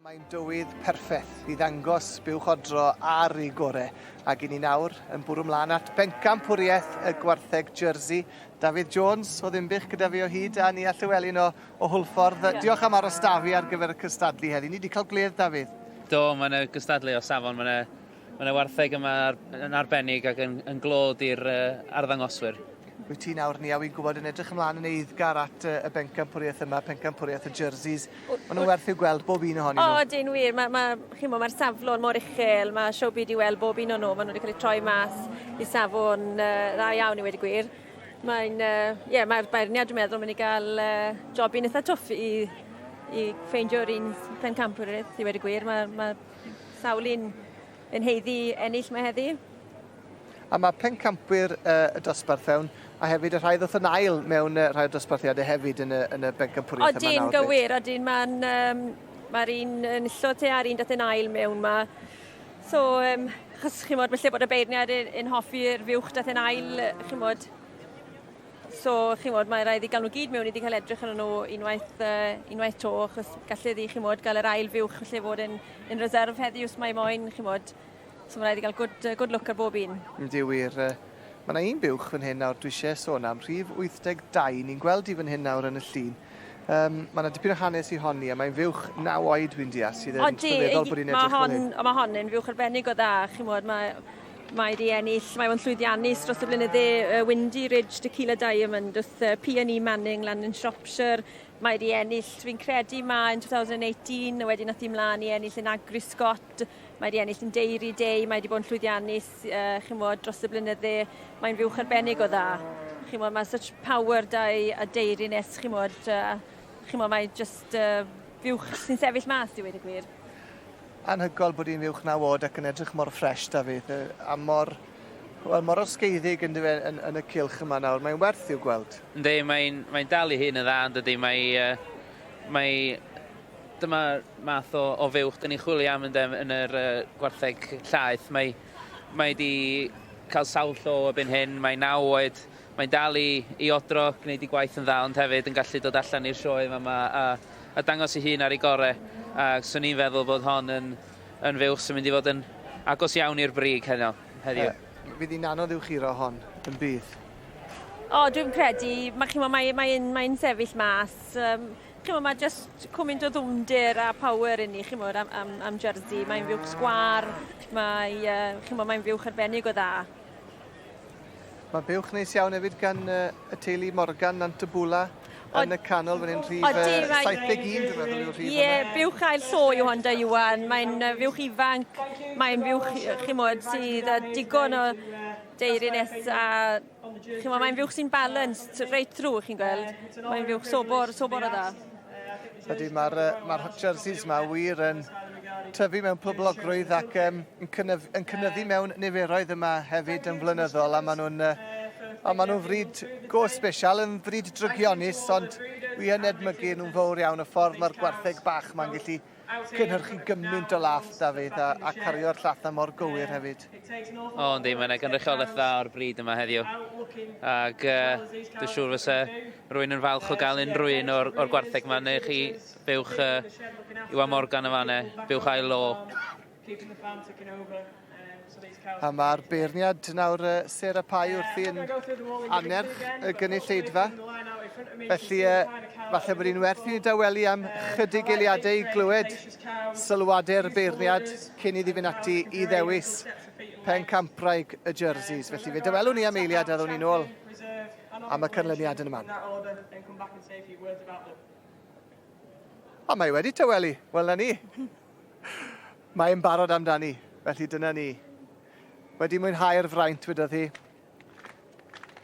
Mae'n dywydd perffaith i ddangos buwchodro ar ei gore, ac i ni nawr yn bwrw mlaen at bencampwriaeth y gwartheg Jersey. David Jones o Ddimbych gyda fi o hyd, a Nia Llewellyn o, o Hwlffordd. Ie. Diolch am aros da fi ar gyfer y cystadlu heddi. Ni wedi cael gwledd, David. Do, mae yna gystadlu o safon, mae yna Mae yna wartheg yma yn arbennig ac yn, yn glod i'r uh, arddangoswyr. Wyt ti nawr, Nia, wi'n gwybod yn edrych ymlaen yn eiddgar at uh, y bencampwriaeth yma, pencampwriaeth y jerseys. Maen nhw'n werth i'w gweld, bob un ohonyn nhw. O, oh, dyn wir. Mae'r ma, ma, ma saflon mor uchel, mae siw byd i weld bob un o'n nhw. Maen nhw wedi cael eu troi mas i safon uh, dda iawn i wedi gwir. Mae'n, uh, yeah, mae'r beirniad, dwi'n meddwl, mynd i gael uh, job i'n eitha twff i i ffeindio'r un pencampwriaeth i wedi gwir. Mae, ma, Sawl un yn heiddi ennill mae heddi? A mae pencampwyr y dosbarth fewn, a hefyd y rhai ddoth yn ail mewn y rhai o dosbarthiadau hefyd yn y, yn y bencampwriaeth yma nawr. Odyn, gywir, odyn, mae'n... Um, Mae'r un yn illo te a'r un dath yn ail mewn ma. So, um, chos chi'n modd, felly bod y beirniad yn, yn hoffi'r fiwch dath yn ail, chi'n modd, So, chi'n modd, mae rhaid i gael nhw gyd mewn i di cael edrych yn nhw unwaith, uh, unwaith to, achos gallu ddi, chi'n modd, gael yr ail fiwch lle fod yn, yn reserve heddi, os mae moyn, chi'n modd. So, mae rhaid i gael good, uh, good look ar bob un. Ydy wir. Uh, mae yna un biwch fan hyn nawr dwi eisiau sôn am, rhif 82, ni'n gweld i fan hyn nawr yn y llun. Um, mae yna dipyn o hanes i honni, a mae'n fiwch naw oed, dwi'n deall, sydd yn trwyddol bod i'n edrych fel hyn. Mae hon yn fiwch arbennig o dda, chi'n modd, mae Mae 'di ennill, mae o'n llwyddiannus dros y blynydde, y Windy Ridge Tequila Diamond wrth uh, P&E Manning lan yn Shropshire. Mae 'di ennill, fi'n credu mae yn 2018, wedyn nath i mlaen i ennill yn Agri Scott, mae 'di ennill yn Dairy Day, mae 'di bod yn llwyddiannus, uh, chi'n bod, dros y blynydde. Mae'n fiwch arbennig o dda. Chi'n bod, mae such power dau a deiriness, chi'n bod, uh, chi'n bod, mae just uh, fiwch sy'n sefyll mas, i wedi gwir. Anhygoel bod hi'n uwch naw oed ac yn edrych mor ffresh 'da fi. Yy a mor wel mor osgeiddig yndyw e yn yn y cylch yma nawr. Mae'n werth i'w gweld. Yndi, mae'n mae'n dal ei hun yn dda yn dydi? Mae yy mae dyma'r math o o fuwch 'dyn ni'n chwilio am ynde yn yr yy gwartheg llaeth. Mae mae 'di ca'l sawl llo erbyn hyn, mae naw oed, Mae'n dal i i odro, gwneud ei gwaith yn dda ond hefyd yn gallu dod allan i'r sioe fama a a dangos ei hun ar ei gore a 'swn i'n feddwl bod hon yn yn fuwch sy'n mynd i fod yn agos iawn i'r brig heno heddiw. Yy fydd hi'n anodd i'w churo hon, yn bydd? O dwi'm credu, ma' chi'mo' mae mae e'n mae e'n sefyll mas yym chi'mo' ma' jyst cwmint o ddwfndir a power inni chi'mod am am am Jersey mae'n fuwch sgwâr mae yy chi'mo' mae'n fuwch arbennig o dda. Mae buwch neis iawn hefyd gan uh, y teulu Morgan Nant y Bwla yn y canol fan hyn, rhif uh, 71 dwi'n meddwl yw'r rhif Ie, yeah, buwch ail llo yw hon da Iwan, mae'n uh, fuwch ifanc, mae'n fuwch, chi'n modd, sydd uh, digon o deirines a chi'n modd, mae'n fuwch sy'n balanced reit drwy, chi'n gweld, mae'n fuwch sobor, sobor o dda. Ydy, mae'r uh, ma jerseys yma wir yn tyfu mewn poblogrwydd ac um, yn, cynnyf, yn cynnyddu mewn niferoedd yma hefyd yn flynyddol a maen nhw'n uh, a maen nhw'n fryd go special, yn fryd drygionus, ond wi yn edmygu nhw'n fawr iawn y ffordd mae'r gwartheg bach mae'n gallu cynhyrchu gymaint o laff, Dafydd, a, a cario'r llatha mor gywir hefyd. O, yndi, mae'n gynrychiolaeth dda o'r bryd yma heddiw. Ac uh, dwi'n siŵr fysa rwy'n yn falch o gael unrhyw un o'r, or gwartheg yma, neu chi bywch uh, Iwan Morgan yn fanna, bywch ail lo. Keeping the farm ticking over. A mae'r beirniad nawr uh, Sarah Pai wrth i'n anerch y gynulleidfa. Felly, uh, falle bod hi'n werth i ni dawelu am chydig eiliadau i glywed sylwadau'r beirniad cyn iddi fynd ati i ddewis pen campraig y jerseys. Felly, fe dawelwn ni am eiliad a ddwn ni'n ôl am y cynlyniad yn y man. A mae wedi tawelu. Wel, na ni. Mae e'n barod amdani, felly dyna ni. Wedi mwynhau'r fraint, wedodd hi,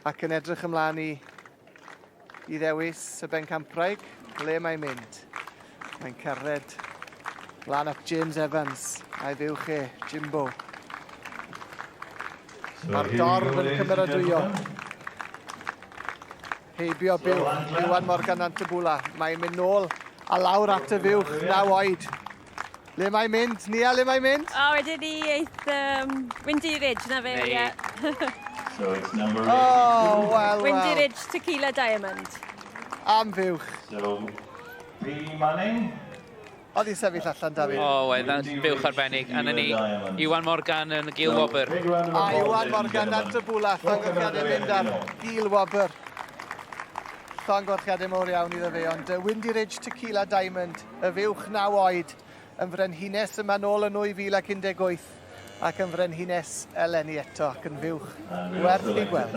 ac yn edrych ymlaen i i ddewis y bencampwraig le mae'n mynd. Mae'n cerdded lan at James Evans a'i fuwch e, Jimbo. Mae'r dorf yn cymeradwyo. Heibio byw, Iwan Morgan Antibula. Mae'n mynd nôl a lawr at y fuwch, naw oed. Le mae'n mynd? Nia, le mae'n mynd? O, wedi ni eith um, Windy Ridge, na fe, ie. Yeah. so it's number eight. Oh, well, Windy well. Ridge Tequila Diamond. Am fuwch. So, P. Manning. Oedd hi'n sefyll allan, Dafydd? O, oedd yn buwch arbennig. A na ni, Iwan Morgan yn y gil wobr. A Iwan Morgan dan trybwla, llongyfrchiadau mynd ar gil wobr. Llongyfrchiadau mowr iawn iddo fe, ond uh, Windy Ridge Tequila Diamond, y fuwch naw oed, yn frenhines yma nôl yn 2018 ac yn frenhines eleni eto ac yn fuwch werth ei gweld.